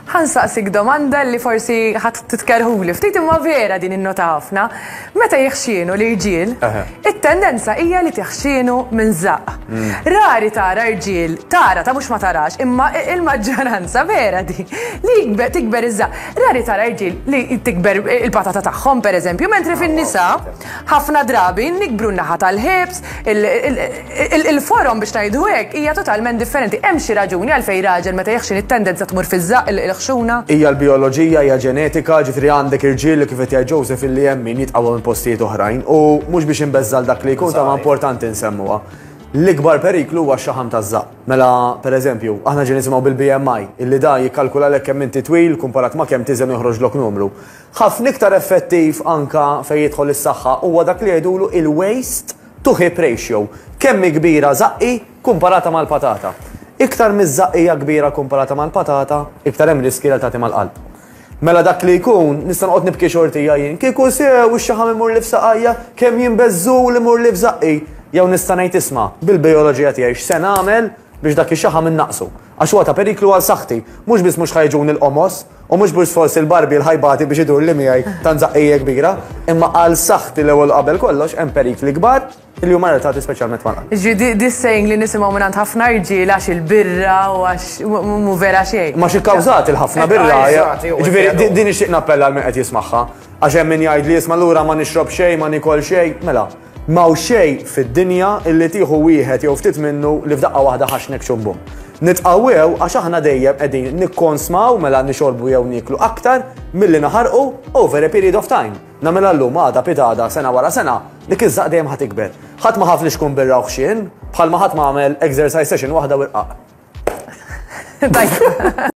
Ħa nsaqsik domanda li forsi ħa titkerrhuli ftit imma vera din innota ħafna. Meta jiħxienu l-irġiel, it-tendenza hija li tiħxienu minn żaqq. Rari tara rġiel, tara ta' mhux ma tarax, imma il-maġġoranza vera di, li tikber iż-żaqq. Rari tara rġiel li tikber il-patata tagħhom pereżempju, mentri fin-nisa, Ħafna drabi nikbru n-naħa tal-ħiebs, il-forom biex ngħidu hekk hija totalment differenti. Hemm xi raġuni għalfejn raġel meta jeħxin it-tendenza tmur fiż-żaqq il-ħxuna? Hija l-bijoloġija, hija ġenetika, ġifieri għandek irġiel, kif qed jgħid Joseph, illi hemm min jitqawwa minn postijiet oħrajn u mhux biex inbeżża' lil dak li jkun tama importanti nsemmuha. L-ikbar periklu huwa x-xaħam taż-żaqq. Mela, pereżempju, aħna ġejna nisimgħu bil-BMI, illi dan jikkalkulalek kemm inti twil kumparat ma' kemm tiżen u joħroġlok numru. Ħafna iktar effettiv anke fejn jidħol is-saħħa huwa dak li jgħidulu il-waste to hip ratio, kemm hi kbira żaqqi kkumparata mal-patata. Iktar miż-żaqq hija kbira kkumparata mal-patata, iktar hemm riskji li tagħti mal-qalb. Mela dak li jkun, nista' noqgħod nibki xortija jien, kieku sew ix-xaħam imurli f'saqajja, kemm jien beżżul imurli f'żaqqi! Jew nista' ngħid isma', bil-bijoloġija tiegħi x'se nagħmel biex dak ix-xaħam innaqqsu? Għax huwa ta' periklu għal saħħti. Mhux biss mhux ħa jiġuni l-qomos, u mhux biss forsi l-barbier ħa jbati biex idurli miegħi tant żaqqija kbira, imma għal saħħti l-ewwel u qabel kollox hemm perikli kbar li huma relatati speċjalment mal. Jiġifieri di s-saying li nisimgħu mingħand ħafna rġiel għax il-birra u għax mhu vera xejn. Imma x'ikkażat il-ħafna birra? Jiġifieri din nixtieq nappella għal min qed jismagħha. Għax hemm min jgħid li isma' lura ma nixrob xejn, ma nikol xejn, mela. Ma hawn xejn fid-dinja illi tieħu wieħed jew ftit minnu li f'daqqa waħda ħaxnek xum bum. Nitqawwew għax aħna dejjem qegħdin nikkonsmaw mela nixorbu jew nieklu aktar milli naħarqu over a period of time. Nagħmilha llum, għada, pitgħada, sena wara sena, dik iż-żaqq dejjem ħa tikber. Ħadd ma ħaf li xkun birra u ħxien, bħalma ħadd ma għamel exercise session waħda u rqaq.